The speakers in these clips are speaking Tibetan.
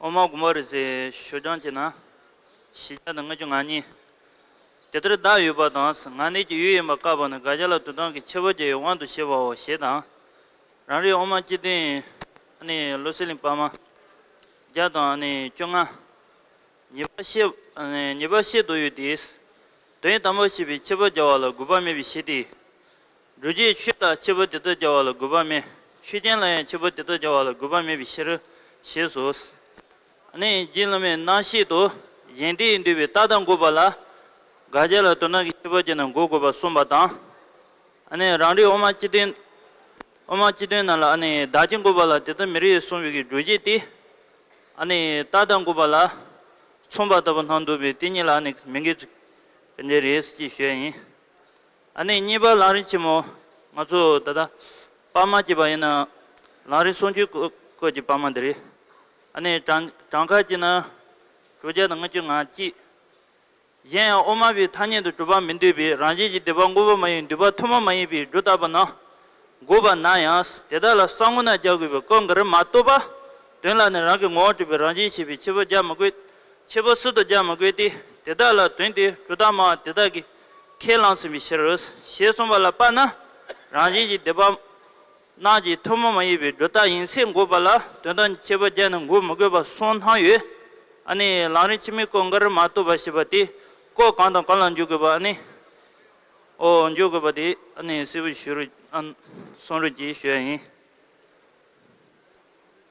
འོ་མ་དགུ་མ་རེ་ཟའི་ཞོ་སྦྱང་བྱས་ན། བཞི་བརྒྱ་དང་ལྔ་བཅུ་ང་གཉིས། དེ་ལྟར་བདག་ཡོད་པ་དང་ང་གནས་ཀྱི་ཡུལ་ཡིན་པ་བཀག་པ་ནི་དགག་བྱ་ལ་དུ་དང་གི་ཕྱེད་པོ་བརྒྱ་ཡི་དབང་དུ་བྱས་པའོ་ཞེས་དང། རང་རིག་འོ་མ་སྤྱི་བདུན། ཨ་ནི་ལོ་སི་ལིང་པདྨ། བརྒྱ་དང་ཨ་ནི་བཅོ་ལྔ། ཉེས་པ་བཤད་དུ་ཡོད་དེ། དོན་དམ་པར་ཤེས་པའི་ཁྱད་པར་རྒྱ་བ་ལ་དགོས་པ་མེད་པའི་ཕྱིར་ཏེ། སྒྲོ་སྐྱེས་ཆོས་དག་ཁྱད་པར་དེ་ལྟར་རྒྱ་བ་ལ་དགོས་པ་མེད་ཆོས་ཅན་ལ་ཡང་ཁྱད་པར་དེ་ལྟར་རྒྱ་བ་ལ་དགོས་པ་མེད་པའི་ཕྱིར། ཞེས་སོ། རྒྱུད་བླ་མའི་རྣམ་བཤད་དུ། གཞན་དེས་འདུས་པའི་རྟགས་དང་དགོས་པ་ལ། དགག་བྱ་ལ་དོན་དམ་གྱི་ཁྱད་པར་གྱི་ནང་གོ་དགོས་པར་གསུངས་པ་དང། རང་རིག་དབུ་མ་སྤྱི་དོན་རྣམས་ལ་བདག་གི་དགོས་པ་ལ་དེ་ལྟར་མི་རིགས་སུ་འབྱུང་བའི་སྒྲོ་སྐྱེས་ཏེ། ཨ་ནི་རྟགས་དང་དགུ་པ་ལ་མཚུངས་པ་ལྟ་བུ་སྣང་འདུག་པས་དེ་གཉིས་ལ་ཨ་ནི་མི་འགལ། གལ་ཏེ་རེད་ཅེས་ཞུ་ཡ་ཡིན། ཨ་ནི་གཉིས་པ་ལང་རིང་ཆེན་མོ། ང་ཚོས་ད་ལྟ་པར་མ་སྐྱེས་པ་ཡིན་ནའང་ལང་རིང་སོང་ཆུའི་བཀོད་ཀྱི་པར་མ་འདི་རེད། ཨ་ནི་བྲང་ཁར་སྐྱེས་ན་དྲུག་བརྒྱ་དང་ལྔ་བཅུ་ང་གཅིག། གཞན་ཡང་དབུ་མ་པའི་ཐ་སྙད་དུ་གྲུབ་པ་མི་འདོད་པའི་རང་བཞིན་གྱི་འདོད་པ་དངོས་པོ་མ་ཡིན་འདོད་པ་ཐུན་མོང་མ་ཡིན་པའི་སྒྲོ་བཏགས་པ་ན་དགོས་པ་ན་ཡང་དེ་དག་ལ་ས་ངོ་ན་རྒྱག་དགོས་པའི་སྐབས་འགར་མ་བསྟོད་པ་དོན་ལ་ནི་རང་གི་ངོ་བོ་གྲུབ་པའི་རང་བཞིན་ཤེས་པའི་ཕྱི་པོ་རྒྱག་མི་དགོས། ཕྱི་པོ་སུ་དང་རྒྱག་མི་དགོས་ཏེ་དེ་དག་ལ་དོན་དེའི་སྒྲོ་བཏགས་མ་དེ་དག་གིས་ཁས་བླངས་ཟིན་པའི་ཕྱིར། ཞེས་གསུངས་པ་ལ་དཔགས་ན་རང་བཞིན་གྱི་འདོད་པ་སྣག་གི་ཐུར་མ་མ་ཡིན་པའི་སྒྲོ་བཏགས་ཡིན་ཚད་འགོད་པ་ལ་དོན་དང་བཅས་པ་བརྒྱབ་ནས་འགོད་མི་དགོས་པ་སོགས་སྣང་ཡོད། ཨ་ནི་ལང་རིང་ཕྱི་མིག་ཀོ་མགར་མ་བཏུབ་པ་ཞེས་པ་དེ་ཀོ་གང་དང་གང་ལ་འཇུག་དགོས་པ་ཨ་ནི་འོ་འཇུག་དགོས་པ་དེ་ཨ་ནི་སྲིད་པོ་ཞུ་རུ་ཨ་སོང་རུ་གྱིས་ཞུ་ཡ་ཡིན།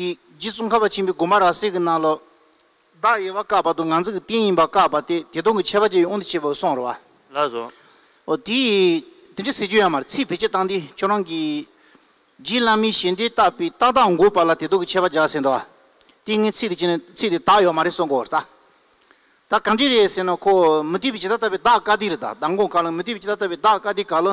ཀྱི། རྗེ་བཙུན་ཁ་བ་ཆེན་པོའི་སྒོ་མ་ར་གསེར་གྱི་སྣ་ལོ། བདག་དབྱེ་བ་བཀག་པ་དུ་ང་ཚིག་གི་རྟེན་ཡིན་པར་བཀག་པ་སྟེ་དེ་སྟོང་གི་ཆད་པ་བཅད་ཡོད་དབང་དུ་བྱས་པའོ་གསུང་བར་བ། ལ་སོགས། ཨོ་དེ། དེ་འདྲའི་ཟེར་རྒྱུ་ཡང་མ་རེད་ཚིག་བེད་སྤྱད་སྟངས་འདི་ཁྱོད་རང་གིས། རྗེ་བླ་མའི་ཞལ་འདེབས་བཏགས་པའི་རྟགས་དག་འགོད་པ་ལ་དེ་སྟོང་གི་ཆད་པ་བཞག་ཟེར་འདུག་བ། དེ་ངས་ཚིག་དེ་བྱས་ནས་ཚིག་དེ་དག་ཡོད་མ་རེད་གསུང་གོ་ད། ད་གང་འདྲས་རེད་ཟེར་ན་ཁོ་མུ་སྟེགས་པས་ཇི་ལྟར་བཏབ་པའི་བདག་བཀའ་འདི་རེད་ད་ད་མགོ་འགག་ལ་མུ་སྟེགས་པས་ཇི་ལྟར་བཏབ་པའི་བདག་བཀའ་འདི་ག་ལོ།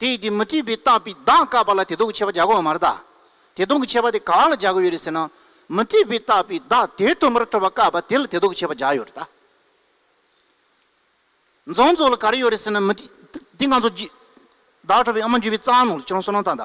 དེ་ཡིས་དེ་མི་བྲིས་པས་བཏགས་པའི་གདངས་བཀག་པ་ལ་དེ་དོག་གི་ཆད་པ་བྱ་གོ་བ་མ་རེད་ད། དེ་དོག་གི་ཆད་པ་དེ་ག་ལ་བྱ་གོ་ཡོད་རེད་ཟེར་ན། མི་བྲིས་པས་བཏགས་པའི་གདངས་དེ་དུ་མར་ཐོབ་པ་བཀག་པ་དེ་ལ་དེ་དོག་གི་ཆད་པ་བྱ་ཡོད་རེད་ད། མཛངས་ཚོགས་ལ་ག་རེ་ཡོད་རེད་ཟེར་ན། མི་བྲིས། དེ་ང་ཚོ་བརྗེད། བདག་ཁྲོ་བའི་ཨ་མ་འཇུས་པའི་རྩ་བ་ནོར་ལ་ཁྱེད་རང་བསོད་ནམས་དང་ད།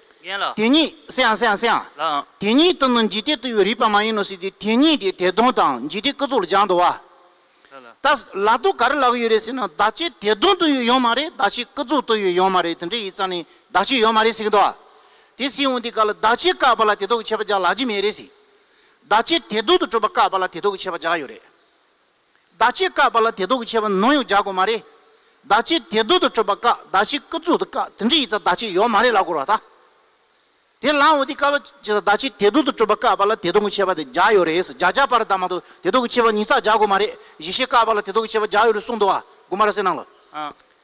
རྒན་ལ། དེ་ཉིད་སེང་སེང་སེང། ལའང། དེ་ཉིད་དུ་ནི་འཇིག་རྟེན་དུ་ཡོད་རིགས་པ་མ་ཡིན་ནོ་ཟེར་ཏེ་དེ་ཉིད་དེ་དད་གདུང་དང་འཇིག་རྟེན་སྐུ་གཟུགས་ལ་སྦྱང་དུ་བ། ལ་ལ། ད་ལ་དུ་ག་རེ་ལབ་ཡོད་རེད་ཟེར་ན་བདག་ཅེས་དད་གདུང་དུ་ཡོད་ཡོད་མ་རེད་བདག་ཅེས་སྐུ་གཟུགས་དུ་ཡོད་ཡོད་མ་རེད་དེ་འདྲ་ཡིན་ཙང་ནི་བདག་ཅེས་ཡོད་མ་རེད་ཟེར་གྱི་འདུག་བ། དེ་སྲིད་འོན་ཏེ་ག་ལ་བདག་ཅེས་བཀག་པ་ལ་དེ་དག་གི་ཆད་པ་བཅག་ལགས་ཀྱི་མེད་རེད། བདག་ཅེས་དད་གདུང་དུ་གྲུབ་པ་བཀག་པ་ལ་དེ་དག་གི་ཆད་པ་བཅག་ཡོད་རེད། བདག་ཅེས་བཀག་པ་ལ་དེ་དོག་གི་ཆད་པ་ནོངས་ཡོག་རྒྱག་དགོས་མ་རེད། བདག་ཅེས་དེ་དོག་ཏུ་སྤྲོད་པ་བཀག་བདག་ཅེས་སྐབས་འཛུགས་ཏུ་བཀག་དེ་འདྲ་ཡིག་ཚགས་བདག་ཅེས་ཡོག་མ་རེད་ལ་གོ་ར་ད། དེ་ལའང་འོ་དེ་བཀག་ལ་ཅེས་བདག་ཅེས་དེ་དོག་ཏུ་སྤྲོད་པ་བཀག་པ་ལ་དེ་དོག་གི་ཆད་པ་དེ་རྒྱག་ཡོག་རེད་ཟེར་རྒྱག་རྒྱག་པ་རེད་ད་མ་གཏོགས་དེ་དོག་གི་ཆད་པ་ཉིས་བསགས་རྒྱག་དགོས་མ་རེད་གཞི་ཤེས་བཀག་པ་ལ་དེ་དོག་གི་ཆད་པ་རྒྱག་ཡོག་རེད་གསུངས་འདུག་ཨ་དགོས་མ་ར་སེ་གནང་ལ།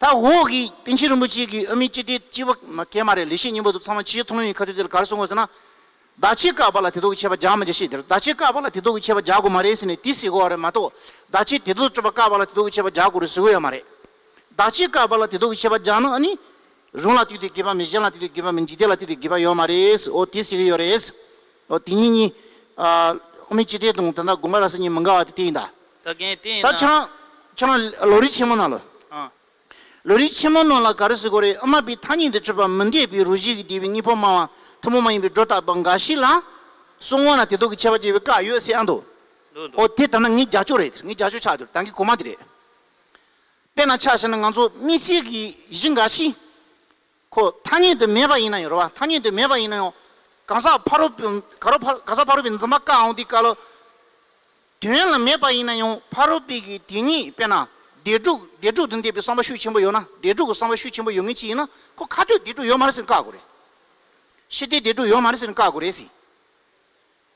ད་འོག་གི་པཎ་ཆེན་རིན་པོ་ཆེ་གིས་ཨ་མི་ཅི་སྟེ་སྤྱི་བ་གས་མ་རེད་ལས་བྱེད་སྙིང་པོ་དུ་ཚང་མ་ཕྱིའི་མཐོང་ལམ་ཡི་ཁ་ཐུག་དེར་གར་སོང་གོ་ཟེར་ན། བདག་ཆེ་དཀའ་བ་ལ་དེ་དོག་གི་ཆད་པ་རྒྱག་མི་རྒྱག་ཤེས་དེར་བདག་ཆེ་དཀའ་བ་ལ་དེ་དོག་གི་ཆད་པ་རྒྱག་དགོས་མ་རེད་ཟེར་ནས་དེ་ཟེར་དགོས་བ་རེད་མ་གཏོགས་བདག་ཆེ་དེ་དོག་སྤྲོད་པ་དཀའ་བ་ལ་དེ་དོག་གི་ཆད་པ་རྒྱག་དགོས་རེད་ཟེར་དགོས་ཡ་མ་རེད། བདག་ཆེ་དཀའ་བ་ལ་དེ་དོག་གི་ཆད་པ་རྒྱག་ན་ཨ་ནི། རང་ལ་ལྟོས་ཏེ་དགེ་བ་མེད་གཞན་ལ་ལྟོས་ཏེ་དགེ་བ་མེད་འཇིག་རྟེན་ལ་ལྟོས་ཏེ་དགེ་བ་ཡོད་མ་རེད། འོ་དེ་སྲིད་གི་ཡོད་རེད། འོ་དེ་གཉིས་གཉིས། ཨ་མའི་སྤྱི་ཏྲའི་དང་ད་ལྟ་དགོངས་པ་ར་ས་གཉིས་མི་འགལ་བ་དེ་དེ་ཡིན་ད། ད་གན་དེ་ཡིན་ད། ད་ཁྱེད་རང། ཁྱེད་རང། ལོ་རིས་ཆེན་མོ་ནང་ལོ། ཨ། ལོ་རིས་ཆེན་མོ་ནང་ལ་ག་རེ་ཟེར་དགོས་རེད་ཨ་མ་པའི་ཐ་སྙད་འདི་སྤྱོད་པ་མི་འདེད་པའི་རུ་བཞི་གི་སྡེ་བའི་གཉིས་ཕོ་མ་བ་ཐུ་མོ་མ་ཡིན་པའི་སྒྲོ་བཏགས་པ་འགའ་ཞིག་ལ། སོང་བ་ན་དེ་དག་གི་ཆད་པ་བཅད་པའི་བཀའ་ཡོད་སྲིད་ཨ་འདུག་འདུག་འདུག་འོ་དེ་ད་ནངས་རྒྱ་ཕྱོགས་རེད་ངས་རྒྱ་ཕྱོགས་ཆགས་འདུག་ད་གིན་གོང་མ་དེ་རེད། དཔེར་ན་ཆ་ཤས་ནི་ང་ཚོ་མི་ཚེ་གི་གཞི་འགའ་ཞིག་གོ་ཐ་སྙད་དུ་མེད་པ་ཡིན་ན་ཡང་རེད་བ་ཐ་སྙད་དུ་མེད་པ་ཡིན་ན་ཡང་གང་ཟག་ཕ་རོལ་པོ་ག་རོ་ཕ་གང་ཟག་ཕ་རོལ་པོའི་འཛིན་པ་དཀའ་འང་དེ་དཀའ་ལོ། དོན་ལ་མེད་པ་ཡིན་ན་ཡང་ཕ་རོལ་པོའི་གི་དེ་ཉིད་དཔེར་ན་བདེ་དྲུག་བདེ་དྲུག་དང་འདས་པའི་བསམ་པ་ཤུགས་ཆེན་པོ་ཡོད་ན་བདེ་དྲུག་གི་བསམ་པ་ཤུགས་ཆེན་པོ་ཡོད་ངེས་ཅི་ཡིན་ན་ཁོ་ཁ་ཐོད་བདེ་དྲུག་ཡོད་མ་རེད་ཟེར་ནས་བཀག་དགོས་རེད། ཤི་བདེ་བདེ་དྲུག་ཡོད་མ་རེད་ཟེར་ནས་བཀག་དགོས་རེད་ཟེར།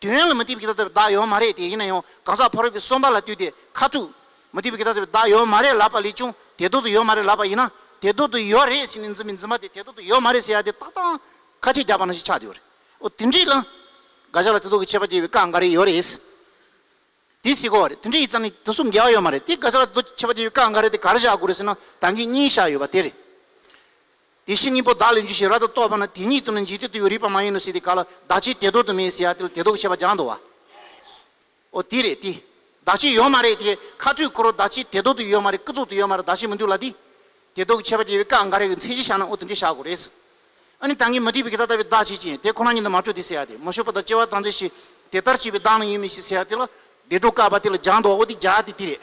དུས་ཡུན་ལ་མུ་སྟེགས་པའི་ཁྱད་ལྟ་བའི་བདག་ཡོད་མ་རེད་དེ་ཡིན་ན་ཡང་གང་ཟག་ཕ་རོལ་པོའི་སོམ་པ་ལ་བཏུད་དེ་ཁ་ཐུག། མུ་སྟེགས་པའི་ཁྱད་ལྟ་བའི་བདག་ཡོད་མ་རེད་ལབ་པ་ལས་ཀྱང་དེ་ལྡོག་ཏུ་ཡོད་མ་རེད་ལབ་པ་ཡིན་ན་དེ་ལྡོག་ཏུ་ཡོད་རེད་ཟེར་ནས་འཛིན་མི་འཛིན་པ་དེ་དེ་ལྡོག་ཏུ་ཡོད་མ་རེད་ཟེར་ཡ་དེ་ཏག་ཏག་ཁ་ཆད་རྒྱག་པ་ན་ཞིག་ཆགས་འདུག་རེད་ཨོ་དེ་འདྲའི་ལ་དགའ་ཞག་ལ་དེ་ལྡོག་གི་ཆད་པ་བཅད་པའི་བཀའ་འགའ་རེ་ཡོད་རེད། དེ་སྲིད་གོ་རེད་དེ་འདྲའི་ཡིག་ཚང་ནི་དུས་སུ་འགལ་བ་ཡོད་མ་རེད་དེ་དགའ་ཞག་ལ་དེ་ལྡོག་གི་ཆད་པ་བཅད་པའི་བཀའ་འགའ་རེ་དེ་ག་རེ་བཞག་དགོས་རེད་ཟེར་ན་ད་གིན་གཉིས་བཞག་ཡོད་པ་དེ་རེད། དེ་བཞིན་གཉིས་པོ་བདག་ལས་འཇུ་ཞིང་ར་ཏུ་གཏོགས་པ་ན་དེ་ཉིད་དུ་ནི་འཇིག་ལྟོས་དུ་ཡོད་རིགས་པ་མ་ཡིན་ནོ་ཟེར་ཏེ་ག་ལ་བདག་ཅེས་དེ་ལྡོག་ཏུ་མེད་ཟེར་ཡ་དེ་ལ་དེ་ལྡོག་བྱེད་པ་སྦྱང་དུ་བའོ། དེ་རེད་དེ། བདག་ཅེས་ཡོད་མ་རེད་དེ། ཁ་ཐུག་འཁོར་བ་བདག་ཅེས་དེ་ལྡོག་ཏུ་ཡོད་མ་རེད་སྐུ་རྫོགས་ཏུ་ཡོད་མ་རེད་བདག་ཅེས་མི་འདུག་ལ་དེ། དེ་ལྡོག་བྱེད་པ་སྐྱེ་བའི་སྐབས་འགའ་རེ་ཀྱི་མཚན་གཞི་བཞག་ན་ཨོ་དེ་འདྲས་བཞག་དགོས་རེད་ཟེར། ཨ་ནི་ད་ངས་མ་དྲིས་པའི་གི་ད་ལྟ་བའི་བདག་ཅེས་ཀྱིས་དེ་ཁོ་ན་ཉིད་དུ་མ་གྲུབ་སྟེ་ཟེར་ཡ་དེ་མ་ཞུགས་པ་དང་སྐྱེ་བ་དང་འདས་ཤིང་དེ་ལྟར་བྱེད་པའི་བདག་ནི་ཡོད་མེད་ཞིག་ཟེར་ཡ་དེ་ལ་བདེ་འགྲོ་བཀག་པ་དེ་ལ་སྦྱང་དུ་བའོ་དེ་བྱ་དེ་དེ་རེད།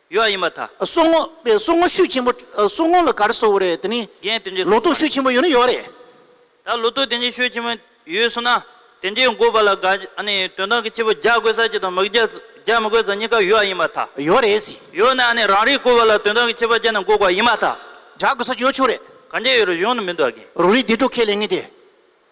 ཡོད་ཡིན་པ་དང། སོག་ངོ། པའི་སོག་ངོ་ཤུགས་ཆེན་པོ། སོག་ངོ་ལ་གར་སོག་རེད་དེ་ནི། རྒན་དེ་འདྲས་ལོ་ཐོག་ཤུགས་ཆེན་པོ་ཡོད་ན་ཡོད་རེད། ད་ལོ་ཐོག་དེ་འདྲས་ཤུགས་ཆེན་པོ་ཡོད་སོང་ན་དེ་འདྲས་འགོ་པ་ལ་དགའ་ཨ་ནི་དོན་དག་གི་སྐྱེས་བུ་རྒྱག་དགོས་ས་ཅིག་དང་མི་རྒྱག་མི་དགོས་ས་གཉིས་ཀ་ཡོད་ཡིན་པ་དང། ཡོད་རེད་ཟེར། ཡོད་ན་ཨ་ནི་རང་རེའི་འགོ་བ་ལ་དོན་དག་གི་སྐྱེས་བུ་རྒྱག་ན་འགོ་དགོས་ཡིན་པ་དང། རྒྱག་དགོས་ས་ཅིག་ཡོད་ཆོག་རེད། གང་རྒྱག་ཡོད་རེད་གཞུང་ནས་མི་འདུག་ག་གིན། རོ་རིའི་སྡེ་གྲོགས་ཁས་ལེན་ངེས་ཏེ།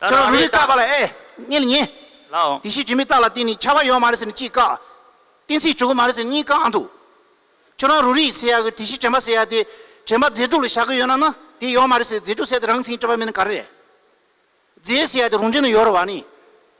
ཁྱོད་རང་རུ་རིགས་བཀག་པ་ལ་ཨེ་ཉན་ཉན། དེ་བཞིན་དྲི་མེད་རྟགས་ལ་བརྟེན་ནས་ཆགས་པ་ཡོད་མ་རེད་ཟེར་ནས་གཅིག་བཀག། གཏན་ཚིགས་བྱུག་གི་མ་རེད་ཟེར་ནས་གཉིས་བཀག་ཨང་འདུག། ཁྱོད་རང་རུ་རིགས་ཟེར་ཡག་གི་དེ་བཞིན་དྲན་པ་ཟེར་ཡག་དེ། དྲན་པ་རྫས་དྲུག་ལ་བཞག་གི་ཡོད་ན་ན་དེ་ཡོད་མ་རེད་ཟེར་རྫས་དྲུག་བསལ་ཏེ་རང་མཚན་སྤྲོས་པ་མེད་ན་ག་རེ་རེད། རྫས་ཟེར་ཡག་དེ་རང་ཅན་ན་ཡོད་རེད་བ་ནི།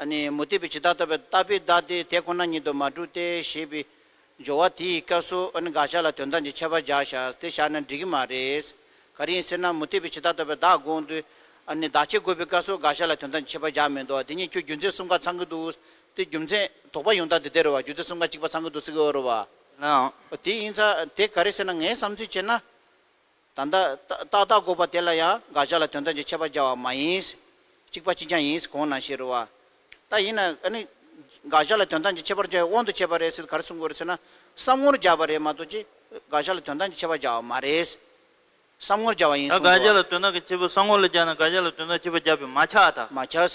ཨ་ནི་མུ་སྟེགས་པས་ཇི་ལྟར་བསྟོད་པའི་ལྟ་བས་བདག་དེའི་དེ་ཁོ་ན་ཉིད་དུ་མ་གྲུབ་སྟེ་ཞེས་པའི་སྦྱོར་བ་དེའི་སྐབས་སུ་ཨ་ནི་དགག་བྱ་ལ་དོན་དམ་གྱི་ཁྱད་པར་སྦྱར་བྱ་སྟེ་བཞག་ན་འགྲིག་གི་མ་རེད། ག་རེ་ཡིན་ཟེར་ན་མུ་སྟེགས་པས་ཇི་ལྟར་བསྟོད་པའི་བདག་དགོངས་དུས་ཨ་ནི་བདག་ཆེ་དགོས་པའི་སྐབས་སུ་དགག་བྱ་ལ་དོན་དམ་གྱི་ཁྱད་པར་སྦྱར་མི་འདུག་དེ་ཉིད་ཁྱོད་རྒྱུ་མཚན་གསུམ་ག་ཚང་གི་འདུག་སྟེ་རྒྱུ་མཚན་དོགས་པ་ཡོང་སྟངས་དེ་དེ་རེད་བ་རྒྱུ་མཚན་གསུམ་ག་གཅིག་པ་ཚང་གི་འདུག་སེ་གི་ཨོ་རེད་བ། ལན། དེ་ཡིན་ཚ་དེ་ག་རེ་ཟེར་ན་ངས་བསམ་ཚུལ་བྱས་ན། ད་ལྟ། ཏག་ཏག་འགོག་པ་དེ་ལ་ཡང་དགག་བཞག་ལ་དོན་དམ་གྱི་ཆད་པ་བཅའ་བ་མ་ཡིན། གཅིག་པ་གཅིག་རྐྱང་ཡིན་ཟེར་གོང་ན་བཤད་རུང་བ། ད་ཡིན་ན། ཨ་ནི། དགག་བཞག་ལ་དོན་དམ་གྱི་ཆད་པར་བཅའ་བའི་དབང་དུ་བྱས་པ་རེད་ཟེར་ག་རེ་གསུང་དགོས་རེད་ཟེར་ན། བསམ་ངོར་སྦྱར་བ་རེད་མ་གཏོགས་ཀྱི། དགག་བཞག་ལ་དོན་དམ་གྱི་ཆད་པ་བཅའ་བ་མ་རེད། བསམ་ངོར་སྦྱར་བ་ཡིན་ད་གསུང་དགག་དགོས་བ། བཞག་ལ་དོན་དམ་གྱི་ཆད་པ་བསམ་ངོར་ལ་སྦྱར་ན་དགག་བཞག་ལ་དོན་དམ་གྱི་ཆད་པ་བཅའ་བས་མ་ཆགས། མ་ཆགས།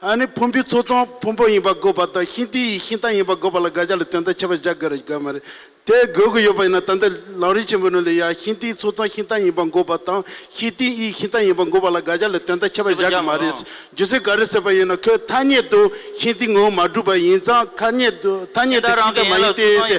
ཨ་ནི་ཕུང་པོའི་ཚོགས་དང་ཕུང་པོ་ཡིན་པར་དགོས་པ་དང་ཤིང་རྟའི་ཡི་ཤིང་རྟ་ཡིན་པར་དགོས་པ་ལ་དགག་བྱ་ལ་དོན་དག་ཁྱད་པར་བཞག་དགོས་རེད་དགོས་མ་རེད། དེ་དགོས་དགོས་ཡོད་པ་ཡིན་ན་ད་ལྟ་ལག་རིས་ཆེན་པོའི་ནང་ལས་ཡ་ཤིང་རྟའི་ཚོགས་དང་ཤིང་རྟ་ཡིན་པར་དགོས་པ་དང་ཤིང་རྟའི་ཡི་ཤིང་རྟ་ཡིན་པར་དགོས་པ་ལ་དགག་བྱ་ལ་དོན་དག་ཁྱད་པར་བཞག་གི་མ་རེད། རྒྱུ་མཚན་ག་རེ་ཟེར་པ་ཡིན་ན་ཁོས་ཐ་སྙད་དུ་ཤིང་རྟའི་ངོ་བོ་མ་གྲུབ་པ་ཡིན་ཙང་ཁ་སྙད་དུ་ཐ་སྙད་དུ་ཤིང་རྟ་མ་ཡིན་ཏེ།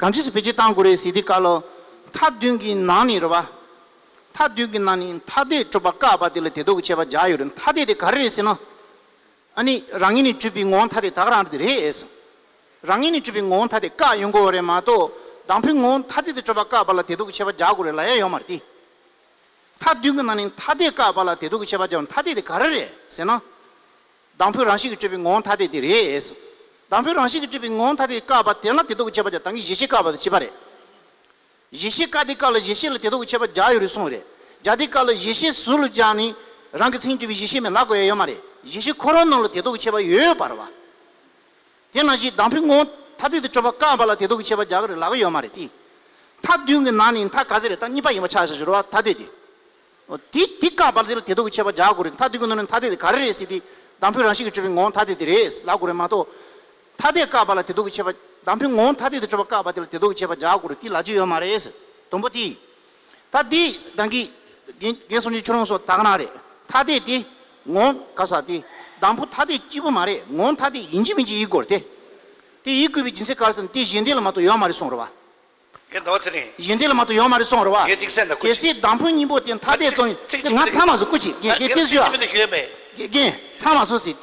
གང་ཅིས་བེད་སྤྱོད་གཏང་དགོས་རེད་ཟེར་དུས་བཀའ་སློབ་མཐའ་བདུན་གྱི་ནང་ནས་རེད་པ། མཐའ་བདུན་གྱི་ནང་ནས་མཐའ་དད་སྤྲོད་པ་བཀག་པ་དེ་ལ་དད་དུག་གི་ཆད་པ་བརྒྱག་ཡོད་རེད་མཐའ་དད་དེ་ག་རེ་རེད་ཟེར་ན། ཨ་ནི་རང་ངེས་ནས་བརྒྱུད་པའི་ངོ་བོ་མཐའ་དད་དག་རང་དེ་རེད་ཨེ་སོང། རང་ངེས་ནས་བརྒྱུད་པའི་ངོ་བོ་མཐའ་དད་བཀག་ཡོང་དགོས་བ་རེད་མ་གཏོགས་དང་པོའི་ངོ་བོ་མཐའ་དད་དེ་སྤྲོད་པ་བཀག་པ་ལ་དད་དུག་གི་ཆད་པ་བརྒྱག་དགོས་རེད་ལ་ཡ་ཡོད་མ་རེད་དེ། མཐའ་བདུན་གྱི་ནང་ནས་མཐའ་དད་བཀག་པ་ལ་དད་དུག་གི་ཆད་པ་བརྒྱག་པ་མཐའ་དད་དེ་ག་རེ་རེད་ཟེར་ན། དང་པོའི་རང་བཞིན་གྱིས་སྤྲོས་པའི་ངོ་བོ་ཐ་དད་དེ་རེད། དང་པོའི་རང་བཞིན་གྱིས་སྤྲོས་པའི་ངོ་བོ་ཐ་དད་བཀག་པ་དེ་ལ་དེ་དོགས་བྱེད་པ་དེ་དང་གི་གཞི་ཤེས་བཀག་པ་དང་བྱེད་པ་རེད། གཞི་ཤེས་བཀག་དེ་བཀག་ལ་གཞི་ཤེས་ལ་དེ་དོགས་བྱེད་པ་བརྒྱ་ཡོད་རེད་གསུངས་རེད། བརྒྱ་དེ་བཀག་ལ་གཞི་ཤེས་ཟུར་ལ་བརྒྱག་ནས་རང་གི་མཚན་གྱུར་པའི་གཞི་ཤེས་མེད་ལགས་གོ་ཡ་ཡོད་མ་རེད། གཞི་ཤེས་ཁོ་རང་རྣམས་ལ་དེ་དོགས་བྱེད་པ་ཡོད་པར་བ། དེ་ནང་བཞིན་དང་པོའི་ངོ་བོ་ཐ་དད་དེ་སྤྲོས་པ་བཀག་པ་ལ་དེ་དོགས་བྱེད་པ་བརྒྱག་གི་རེད་ལགས་གོ་ཡོད་མ་རེད་དེ། མཐའ་བདུན་གྱི་ནང་ནས་མཐའ་ག་ཚད་རེད་མཐའ་གཉིས་པ་ཡིན་པ་ཆགས་ཞེས་ཟེར་བ་ཐ་དད་དེ། དེ་དེ་ཀ་བར་དེ་ལ་དེ་དོག་གི་ཆད་པ་རྒྱག་དགོས་རེད་མཐའ་དེ་ཀུན་ནོར་ནི་མཐའ་དེ་དེ་ག་རེ་རེད་སྲིད་དེ་དང་པོའི་རང་བཞིན་གྱི་སྤྱོད་པའི་ངོ་བོ་མཐའ་དེ་དེ་རེད་ལབ་དགོས་རེད་མ་གཏོགས། མཐའ་དེ་ཀ་བར་ལ་དེ་དོག་གི་ཆད་པ། དང་པོའི་ངོ་བོ་མཐའ་དེ་དེ་སྤྱོད་པ་ཀ་བར་དེ་ལ་དེ་དོག་གི་ཆད་པ་རྒྱག་དགོས་རེད་དེ་ལ་རྒྱུ་ཡོད་མ་རེད། དང་པོ་དེ། ད་དེ་དང་གི། རྒན་གསུམ་གྱི་ཆོས་ལུང་སོགས་དག་གནང་རེད་མཐའ་དེ་དེ། ངོ། ག་ས་དེ། དང་པོ་མཐའ་དེ་སྐྱིད་པོ་མ་རེད་ངོ་མཐའ་དེ་ཡིན་གྱི་མིན་གྱི་ཡིག་དགོས་རེད་དེ། དེ་ཡིག་དགོས་པའི་སྦྱིན་སྲེག་ག་རེ་ཟེར་ནས་དེ་གཞན་སྡེ་ལ་མ་གཏོགས་ཡོད་མ་རེད་གསུངས་རོགས་པ། ངས་ཟླ་བ་ཚེ་རིང། གཞན་དེ་ལ་མ་ཏོག་ཡོང་མ་རེད་སོང་རོགས་བ། གལ་ཅིག་སེམས་དང་སྐུ་གལ་ཅིག། སྲིད་དང་པོའི་སྙིང་པོ་དེ་མཐའ་བརྟན་གཙོ་ཡིན། ཚིག་ཅིག་ང་ཚང་མ་སུ་སྐུ་ཅིག་རྒྱལ་རྒྱལ་སྐད་ཤོད་ཨ། གལ་ཏེ་སྐད་ཅིག་ཡོད་པས། རྒྱལ་རྒྱལ་ཚང་མ་སུ་སྲིད་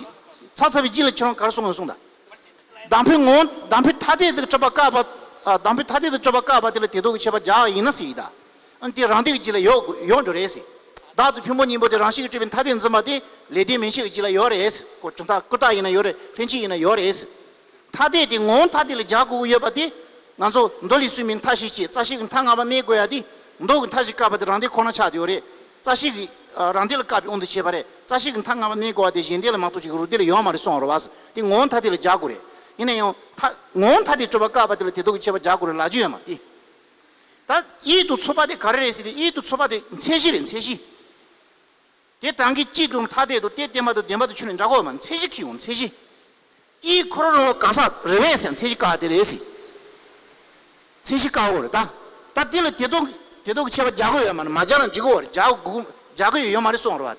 ཚ་ཚ་བའི་ལྗིད་ལ་ཁྱེད་རང་གར་སོང་ཡོང་གསུང་ད། དང་པོའི་ངོ་བོ་དང་པོའི་ཐ་དད་དུ་སྤྱོད་པ་དཀའ་བ། དང་པོའི་ཐ་དད་དུ་སྤྱོད་པ་དཀའ་བ་དེ་ལ་དེ་སྡུག་གི་ཆད་པ་རྒྱག་ཡིན་ན་སྲིད་ད། ཨ་དེ་རང་སྡུག་གི་ལྗིད་ལ་ཡོག་ཡོང་འགྲོ་རེད་སྲིད། བདག་ཏུ་ཕུན་པོ་སྙིང་པོ་དེ་རང་ཤི་གི་སྤྲུལ་པའི་མཐའ་བརྟན་འཛིན་པ་དེ་ལས་ལྡན་མིན་ཤི་གི་ལྗིད་ལ་ཡོག་རེད། ཀུ་དག་ཡིན་ན་ཡོག་རེད་ལྷན་སྐྱེས་ཡིན་ན་ཡོག་རེད། ཐ་དད་དེ་ངོ་བོ་ཐ་དད་ལ་རྒྱག་དགོས་ཀྱི་ཡོད་པ་དེ། ང་ཚོ་མདོ་ལས་སུན་པའི་མཐའ་ཞིག་བྱས་རྩ་ཤེས་ཀྱི་མཐའ་སྔ་བ་སྨྲས་དགོས་ཡ་དེ། མདོ་གི་མཐའ་ཞིག་བཀག་པ་དེ་རང་སྡེ་ཁོ་ན་ཆགས་ཡོད་རེད། རྩ་ཤེས་ཀྱི། རང་སྡེ་ལ་བཀག་པའི་དབང་དུ་བྱས་པ་རེད། རྩ་ཤེས་ཀྱི་མཐའ་སྔ་བ་སྨྲས་དགོས་བ་དེ་གཞན་སྡེ་ལ་མ་གཏོགས་གཅིག་རུ་སྡེ་ལ་ཡོད་མ་རེད་སོང་རུ་བས་དེ་ངོ་བོ་ཐ་དད་ལ་རྒྱག་དགོས་རེད། ཡིན་ན་ཡང། ཐ། ངོ་བོ་ཐ་དད་སྤྱོད་པ་བཀག་པ་དེ་ལ་དེ་དོགས་ཀྱི་ཆེ་བ་རྒྱག་དགོས་རེད་ལབ་ཀྱི་ཡོད་མ་དེ། ད། དབྱིད་དུ་འཚོ་བ་དེ་ག་རེ་རེད་ཟེར་དེ་དབྱིད་དུ་འཚོ་བ་དེ་མཚན་གཞི་རེད་མཚན་གཞི། དེ་དྲང་གི་དཀྱིལ་དུ་མཐའ་གཏད་དུ་སྟེ་བརྟན་པ་དང་ལྡན་པ་དུ་ཆུ་ནི་འདྲ་གོ། མཚན་གཞི་ཁྱི་ཡུག་མཚན་གཞི། ཨི། ཁོ་རོ་རོ་བ་ག་ས་རི་བས་སའི་མཚན་གཞི་ཀ་དེ་རེ་སི། མཚན་གཞི་ཀ་གོ་རེ་ད། ད་དེ་ལ་དེ་དོག་གི་དེ་དོག་གི་ཆད་པ་རྒྱག་གོ་ཡོད་མ་རེད་མ་རྒྱག་ན་འཇིག་གོ་རེད་རྒྱག་གོ་གོ་རྒྱག་གོ་ཡོད་ཡོད་མ་རེད་སོང་རེ་བ།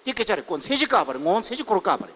དེ་སྐད་ཆ་རེད་གོ་མཚན་གཞི་ཀ་བ་རེད་ངོ་མཚན་གཞི་ཁོ་རོ་ཀ་བ་རེད།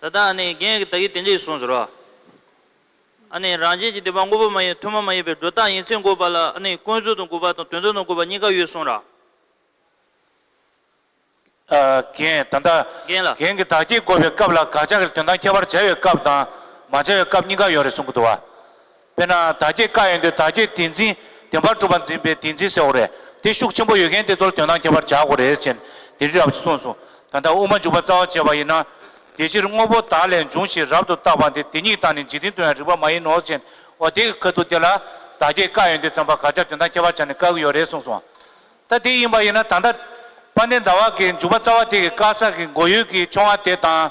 ད་ལྟ་ཨ་ནི་རྒན་གྱིས་ད་གིན་དེ་འདྲས་གསུངས་ཟེར་རོ། ཨ་ནི་རང་བཞིན་གྱིས་དེ་བ་འགོག་པ་མ་ཡིན་ཐུན་མོང་མ་ཡིན་པའི་སྒྲོ་བཏགས་ཡིན་ཚེ་འགོག་པ་ལ་ཨ་ནི་ཀུན་རྫོབ་ཏུ་འགོག་པ་དང་དོན་རྫོབ་ཏུ་འགོག་པ་གཉིས་ཀ་ཡོད་གསུངས་ར། རྒན། ད་ལྟ་རྒན་ལ། རྒན་གྱིས་ད་གིན་འགོག་པའི་སྐབས་ལ་དགག་བྱ་གིར་དོན་དང་ཁྱད་པར་བྱ་བའི་སྐབས་དང་མ་བྱ་བའི་སྐབས་གཉིས་ཀ་ཡོད་རེད་གསུངས་ཀྱི་འདུག་བ། དཔེར་ན་དར་རྒྱས་བཀའ་ཡོད་འདོད་དར་རྒྱས་དེ་འཛིན་བདེན་པར་གྲུབ་པ་འཛིན་པའི་དེ་འཛིན་ཟེར་བ་རེད་དེ་ཤུགས་ཆེན་པོ་ཡོད་མཁན་དེ་ཚོར་དོན་དང་ཁྱད་པར་བྱ་དགོས་རེད་ཅེས་དེ་འདྲའི་རབ་བྱེད་གསུངས་སོང་ད་ལྟ་དབུ་མ་འཇུག་པ་རྩ་བ་བྱས་པ་ཡིན་ན། དེ་ཕྱིར་དངོས་པོ་དག་ལས་འབྱུང་ཞེས་རབ་ཏུ་བརྟགས་པ་འདི་དེ་ཉིད་དང་ནི་འཇིག་རྟེན་དུ་ཡང་རིགས་པ་མ་ཡིན་ནོ་ཅེས་འོ་དེ་ག་དུས་དེ་ལ་དར་རྒྱས་བཀའ་ཡོད་འདོད་བརྩམས་པ་ག་ཅག་དོན་དང་ཁྱད་པར་བྱ་ནས་བཀག་གི་ཡོད་རེད་གསུངས་སོང། ད་དེ་ཡིན་པ་ཡིན་ན་ད་ལྟ་དཔལ་ལྡན་ཟླ་བ་གའི་འཇུག་པ་རྩ་བ་དེ་གི་བཀག་ས་གི་མགོ་ཡུལ་གྱི་ཆུང་བ་དེ་དང།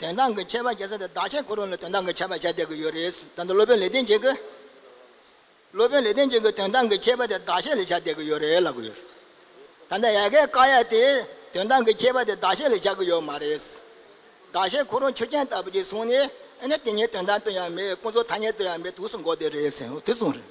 དོན་དག་གི་ཁྱད་པར་བྱེད་ས་དེ་བདག་གཞན་གང་རུང་ལ་དོན་དག་གི་ཁྱད་པར་བྱ་བསྡད་ཀྱི་ཡོད་རེད། ད་ལྟ་སློབ་དཔོན་ལེགས་ལྡན་འབྱེད་ཀྱིས་སློབ་དཔོན་ལེགས་ལྡན་འབྱེད་ཀྱིས་དོན་དག་གི་ཁྱད་པར་དེ་བདག་གཞན་ལས་བྱ་བསྡད་ཀྱི་ཡོད་རེད་ལབ་ཀྱི་ཡོད་རེད། ད་ལྟ་ཡལ་གའི་དཀར་ཡལ་དེས་དོན་དག་གི་ཁྱད་པར་དེ་བདག་གཞན་ལས་བྱ་གི་ཡོད་མ་རེད། བདག་གཞན་གང་རུང་ཆུ་རྐྱང་ལྟ་བུ་ཞིག་བཟུང་ནས་ཨེ་ན་དེ་ཉིད་དོན་དག་ཏུ་ཡང་མེད་ཀུན་རྫོབ་ཐ་སྙད་དུ་ཡང་མེད་དུས་སུ་འགོག་བསྡད་རེད་ཟེར་དུས་གསུངས་རེད།